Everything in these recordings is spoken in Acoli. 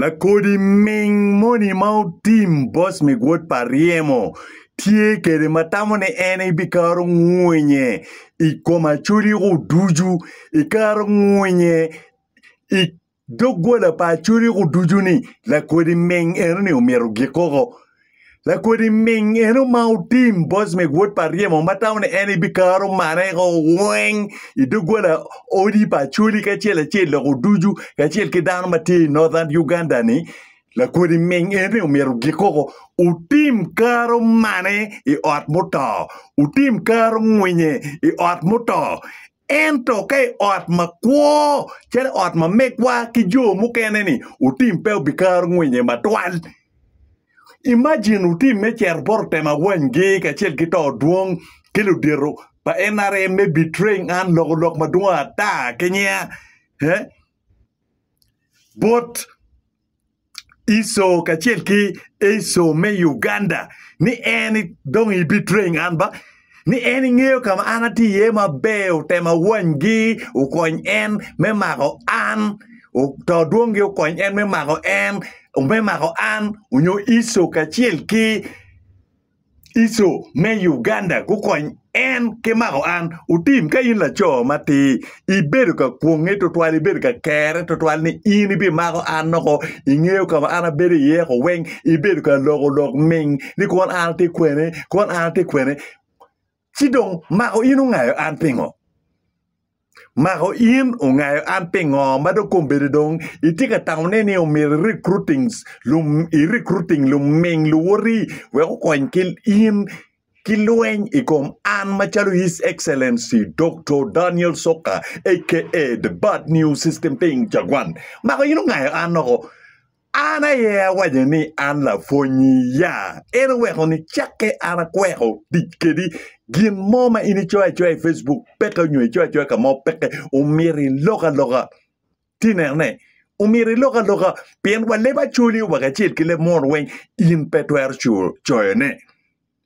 Lakodi ming moni ma otim boss me gwod pa ryemo tye kede ma tamo ni en ebikaro ngwinye i kom acoli go ducu ikaro ngwinye i doggola pa acoli go ducu ni lakodi ming eno ni omyero gik koko. Lakodi ming eno ma otim Bosmek wod pa Ryemo ma tamo ni en ebikaro marre o weng i doggola odi pa Acholi kacel acel loko ducu kacel ki dano ma tye i Northern Uganda ni lakodi ming eno omyero ogik koko otim karo mane i ot muto otim karo ngwinye i ot muto Ento ka i ot makwo calo ot ma megwa ki jo mukene-ni, otim pe obikaro ngwinye matwal. Imajin otim me cito bot otemo awanygi kacel ki to dwong ki ludito pa NRM me betraying an loko lok madwong ata ki nya bot Iso kacel ki Iso me Uganda ni en dong ibitreng an ba ni en ingeyo ka ma an atye iye maber otemo awanygi okony en me mako an oto dwongi okony en me mako en me mako an onyo Iso kacel ki Iso me Uganda gukony en ki mako an. Otim, ka in laco matir, ibedo ka kwonge twatwal, ibedo ka kere twatwal ni in ibimako an noko, ingeyo ka ma an abedo iye ko weng, ibedo ka loko lok ming ni kon an atye kwene, kon an atye kwene. Ci dong, mako in ongayo an pingo? Mako in ongayo an pingo ma dong kombeddi dong itye ka tamone ni omyero irikruting lum irikruting luming luwoti wek okony ki in ki lweny i kom an macalo His Excellency Doktor Daniel Soka aka The Bad News System Ping Jaguan? Mako in ongayo an oko An aye awaco ni an lapwonyi, ya en oweko ni cakke an akweko tic kedi. Gin mo ma in icoyo acoya i Facebook peke nyo icoyo acoya ka mo peke, omyero ilok aloka. Ti nene, omyero ilok aloka pien wa leb acoli wek acel ki leb munu weng in pe twero coyone.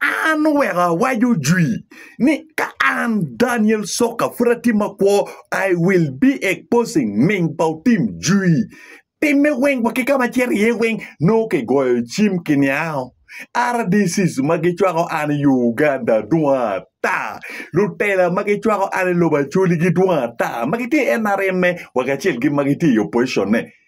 An oweko awaco jwi ni ka an Daniel Soka pud atye makwo I will be exposing ming pa otim jwi timme weng wa ki ka ma acito iye weng nongo kigoyo cim kiniango RDCs ma gicwako an i Uganda dwong ata lutela ma gicwako an i lobo Acholi-gi dwong ata ma gitye i NRM-me wa kacel ki ma gitye i opposition-ne.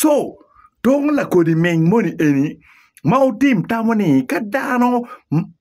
Co, tung lakodi meny moni eni ma wutim tamo ni ka dano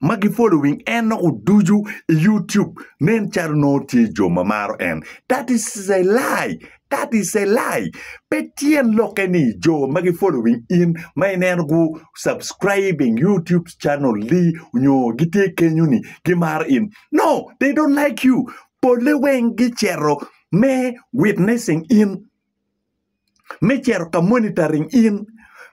ma gifolowing en nongo ducu i yutub nen calo nongo tye jo ma maro en. That is a lie, that is a lie. Pe tyen lokke ni jo ma gifolowing in ma ineno gu subscribing yutub channel ni nyo gitye kenyo ni gimaro in. No, they don't like you. Polle weng gicito me witnessing in, me cito ka monitoring in,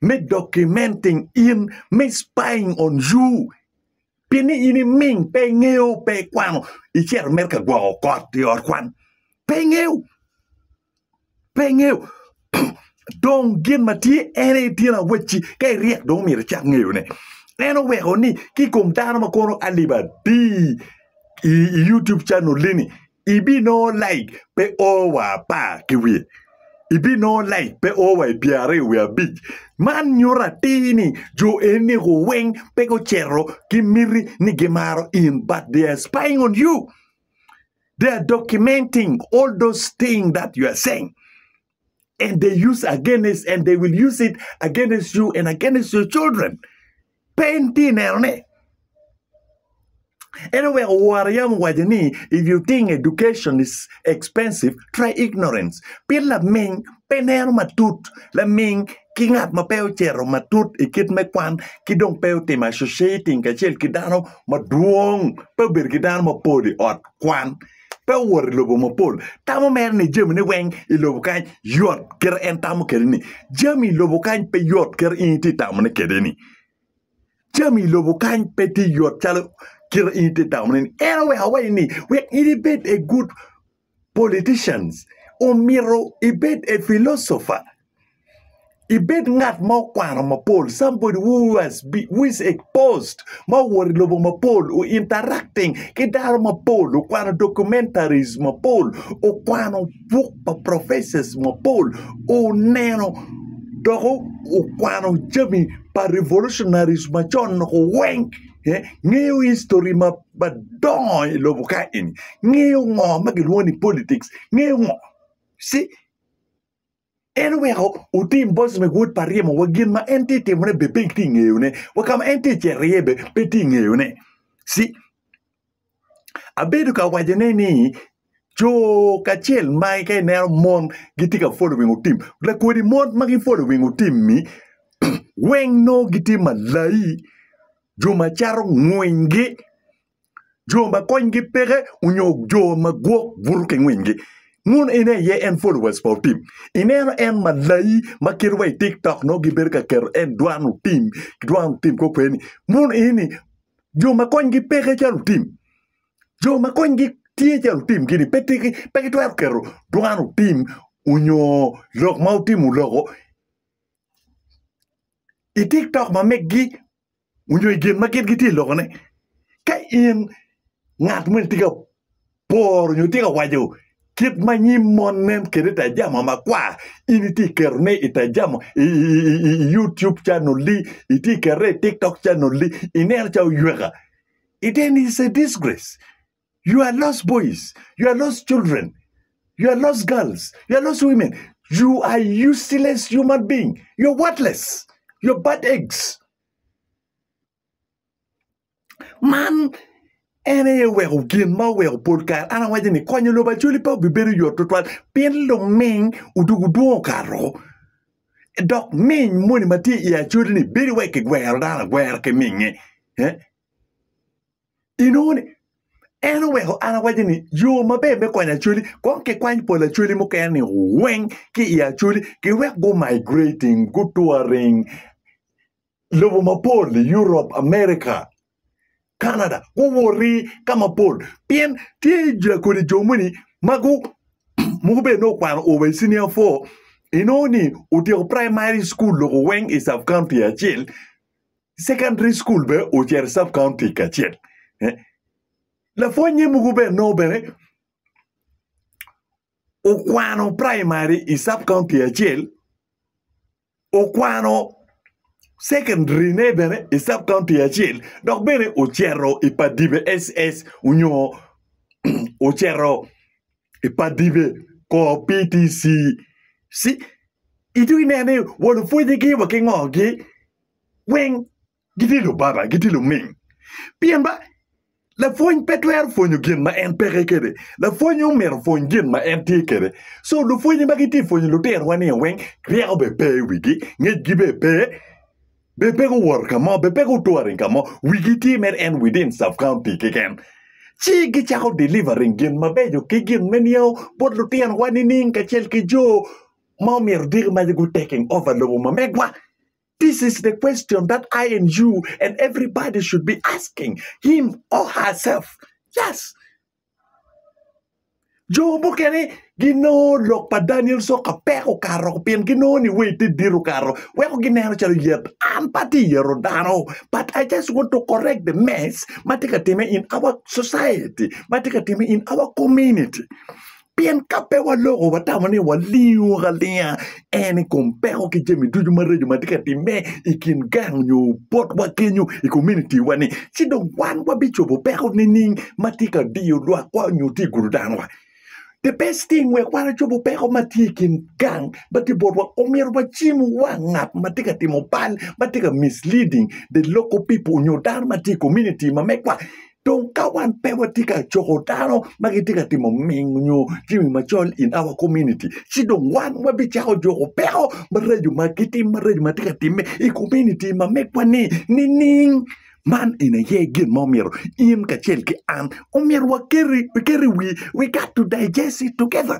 me documenting in, me spying on you. Pi ni in iming pe ingeyo pe ikwano icito mere ka gwoko kot i ot kwan. Pe ingeyo. Pe ingeyo. Dong gin ma tye en aye tyen awacci ka iryek dong omyero icak ngeyo ne. En oweko ni ki kom dano ma kono alip adi i YouTube channel ini Ibinongo laik pe o wa apar ki wiye, ibinongo laik pe o wa i pyeraryo wiye abic. Man nyuto atir ni jo eniko weng pe gucito ki miti ni gimaro in but they are spying on you, they are documenting all those things that you are saying. and they use against and they will use it against you and against your children. Pen ti neno ne. Anyway, war yam waje ni if you think education is expensive, try ignorance. Pin la ming pe neno matut, la ming ki ngat ma pe ocero matut i kit me kwan ki dong pe otimo associating kacel ki dano madwong pe obedo ki dano mapol i ot kwan pe owot i lobo mapol tamo mere ni jamine weng i lobo kany yot kit en tamo kede ni jami i lobo kany pe yot kit in iti tamo ne kede ni jami i lobo kany pe ti yot calo kit in iti tamo ne ni en oweko awaci ni wek in ibed a good politicians omito ibed a philosopher ibed ngat ma okwano mapol somebody who has been, who is exposed ma owuto i lobo mapol o interacting ki dano mapol okwano documentaries mapol okwano buk pa professors mapol oneno dok o- okwano jami pa revolutionaries macon loko weng eh, ngeyo history ma madongo i lobo ka eni ngeyo ngo ma gilwongo ni politics ngeyo ngo si En oweko otim boc me wod pa ryemo wa gin ma en tye timone be pek tye ngeyone wa ka ma en tye cito iye be pe tye ngeyone si abedo ka wacone ni co kacel ma ka ineno mon gitye ka following otim lakodi mon ma gi following otim-mi weng nongo gitye malayi jo ma cato ngwiny gi jo ma konygi peke onyo jo ma gwok buto ki ngwingi mono en aye en followers pa otim ineno en malayi ma kite wa i tik tok nongo gibedo ka keto en dwan otim ki dwan otim kong kwede ni mono eni jo ma konygi peke calo otim jo ma konygi tye calo otim gini pe tiki pe gitwero keto dwan otim onyo lok ma otimo loko i tik tok ma megi onyo i gin ma gin gitye ka lokone. Ka in ngat ma itye ka poro onyo itye ka waco kit ma nyim mon nen kwede i tajama makwar, in itye ka ketone i tajama, i YouTube channel-li, itye ka ketone i TikTok channel-li, ineno calo oyweka, then it's a disgrace. You are lost boys, you are lost children, you are lost girls, you are lost women, you are useless human being, you are worthless, you are bad eggs. Man en aye oweko gin ma oweko pol kare an awaco ni konyo lobo acoli pe obibedo yot tutwal pien luming odugo dwong okato dok ming moni ma tye i acoli-ni bedo wai kigwero dano agwera ki minge. Eh? Inongo ni, en oweko an awaco ni yo maber me kwanyo Acholi kong kikwany pol Acholi mukene ni weng ki i Acholi giwek gu migrating gu touring lobo mapol Europe, America, Canada guwoti ka mapol pien tye ja kodi jo moni ma gu mogo bene nongo okwano over i senior four inongo ni otyeko primary school lobo weng i sub county acel Secondary school bene ocito sub county kacel. Eh, Lapwony ne mogo bene nongo bene okwano primary i sub county acel, okwano secondary ne bene i sub county acel, dok bene ocito i Padibe SS onyo ocito i Padibe kor PTC. Si, itugi nene ni walupwonyegi wa ki ngogi weng gitye lubaba, gitye luming. Pien ba lapwony pe twero pwonyo gin ma en peke kede, lapwony omyero opwony gin ma en tye kede. So lupwonye ma gitye pwonyo lutirowa ni weng ryeko be pe i wigi, ngecgi be pe, be pe guwoto ka mo, be pe gutouring ka mo, wigi tye mere en within sub county keken. Ci gicako delivering gin mabeco ki gin me niango bot lutirowa nining kacel ki jo ma omyero diki mac gutaking over lobo ma megwa. This is the question that I and you and everybody should be asking him or herself. Yes. Jo mukene ginongo lok pa Daniel soka pek okato pien ginongo ni wait te dit okato weko gineno calo yet. An pa ti yero dano but I just want to correct the mess ma tye ka time in our society, ma tye ka time in our community. Pien ka pe waloko watamo ni walingo ka linga en i kom peko ki jami ducu maraco ma tye ka timme i kin gang nyo botwa kenyu i kominitiwa-ni, ci dong wan wabicobo peko nining ma tye ka diyo lwakwa nyo tye gudo danowa? The best thing wek wan ocobo peko ma tye i kin gang ma tye botwa, omyero wacim wang ngat ma tye ka timo bal, ma tye ka misleading the local people nyo dano ma tye i kominiti ma megwa. Dong ka wan pe watye ka coko dano ma gitye ka timo ming nyo jami macol in our community, ci dong wan wabicako juko peko maraco ma gitim maraco ma tye ka timme i community ma megwa-ni nining? Man eni aye gin ma omyero in kacel ki an omyero waket waket i wi, we got to digest it together.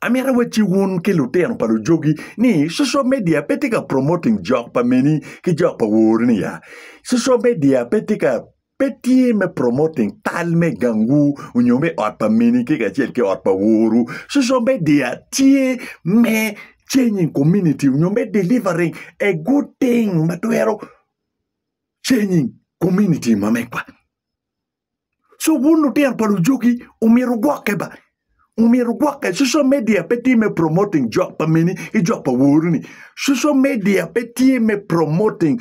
Amito wa ci wun ki lutino pa lujogi ni social media pe tye ka promoting jok pa meni ki jok pa wori ni ya. Social media pe tye ka pe tye me promoting tal me gangwu onyo me ot pa meni ki kacel ki ot pa woru. Social media tye me changing community onyo me delivering a good thing ma twero changing community mamegwa. So wun lutino pa lujugi omyero wugwokke ba, omyero wugwokke. Social media pe tye me promoting jok pa meni ki jok pa worini. Social media pe tye me promoting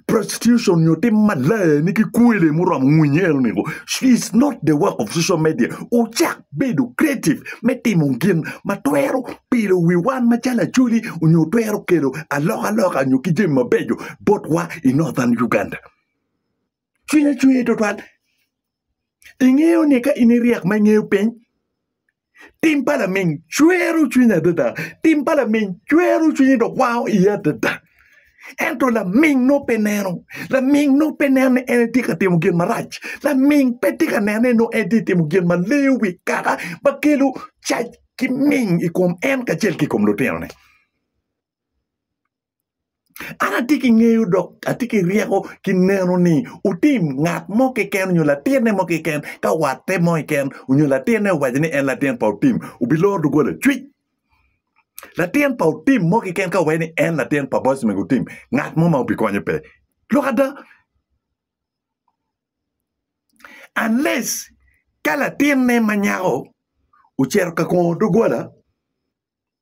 prostitution nyo tim malayani ki kwele muromo ngwinyo enoni ngo. It's not the work of social media. Wucak bedo creative me timo gin ma twero pilo wi wan macalo Acholi nyo twero kelo alokaloka nyo ki jami mabeco botwa i Northern Uganda. Cwiny ocwer twatwal. Ingeyo ni ka in iryek ma ingeyo piny, tim pa laminy cwero cwiny adada. Tim pa laminy cwero cwiny dok wango iye adada. Ento laminy no pe neno. Laminy no pe neno ni en tye ka timo gin marac. Laminy pe tye ka neno ni en tye ka timo gin ma leyo wi kaka ma kelo cac ki miny i kom en kacel ki i kom lutinone. An atye ki ngeyo dok atye ki ryeko ki neno ni wutim ngat mo keken onyo latinne mo keken ka watte mo keken onyo latinne owaco ni en latin pa otim wubiloro dogola cwic. Latin pa otim mo keken ka owaco ni en latin pa boc mego otim ngat mo ma wubikonye pe. Lok ada unless ka latinne ma nyako ocito ka kongo dogola.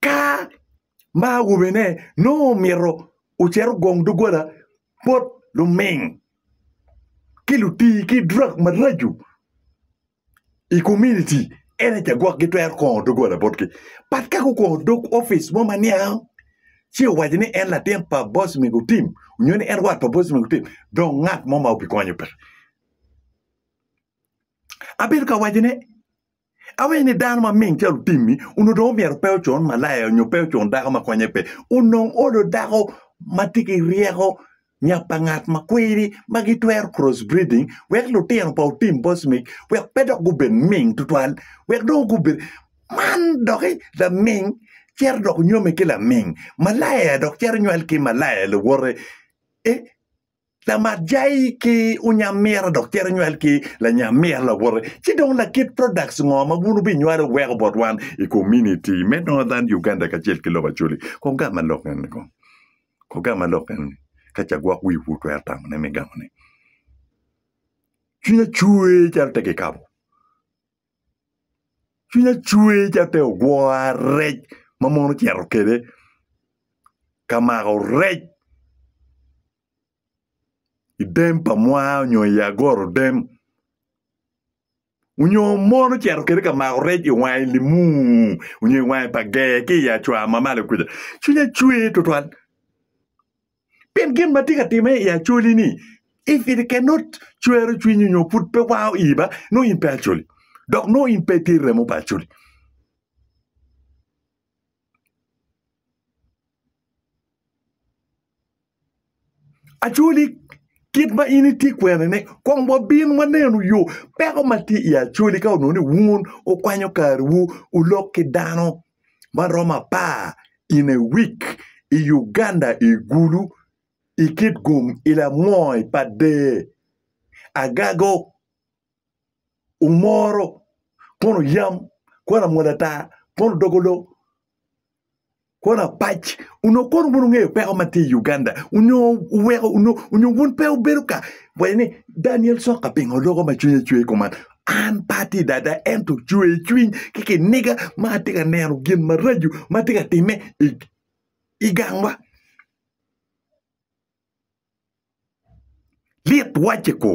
Ka ma awobene nongo omito ocit ogong doggola bot luming ki lutii ki i drak maraco i kominiti ene ca gwok gitwero kongo doggola botgi bat ka gukongo dog opic mo ma niang ci owaco ni en latin pa boc me gutim nyo ni en wat pa boc me gutim dong ngat mo ma obikonyo peke. Abedo ka wacone. Awinyo ni dano ma ming calo otimmi onongo dong omyero pe ocun malaya nyo pe ocun dako ma konye pe. Onongo olo dako ma tye ki ryeko nya pa ngat ma kwiri ma gitwero cross breeding wek lutino pa otim bocmic wek pe dok gubed ming tutwal wek dong gubed man doki laming cito dok nyome ki laming malaya dok cito nywal ki malaya lawote eh. Lamatjai ki unyamira dok cito nywal ki lanyamira lawote, ci dong lakit products ngo ma wun wubinywalo weko bot wan i community me Northern Uganda kacel ki lobo Acholi? Kong gam ma lok eni kong. Kong gam ma lok eni. Ka ca gwok wiu pu twero tamo ne me gamo ne. Cwinya cwer calo te kikabo. cwinya cwer calo pe ogwora rec ma mon ocito kwede ka mako rec i dem pa mwa nyo i agorodem nyo mon ocito kwede ka mako rec i wange limu nyo i wange pa ger ki i acwa ma malo kuca cwinya cwer tutwal. Pien gin ma tye ka timme i acoli-ni, if it can not cwero cwinyi nyo pud pe wao iyi ba nongo in pe acoli, dok nongo in pe itye remo pa acoli. Acoli kit ma in itye kwenene, kong wabin wanenu yo peko ma tye i acoli ka onongo ni wun wukwanyo kariwu, wulok ki dano maromo apar in a week i Uganda i gulu i kit gum i lamony pa dee. Agago omoro kono yam kono amwodo ata kono dogo loo kono apac onongo kono wun wungeyo peko ma tye i Uganda nyo weko nyo wun pe wubedo ka waco ni Daniel Sokka pingo loko ma cwinye cwer kuman. An pe atye i dada, ento cwer i cwiny ki kiniga ma atye ka neno gin maraco ma tye ka timme i gangwa. Lit wacce kwo.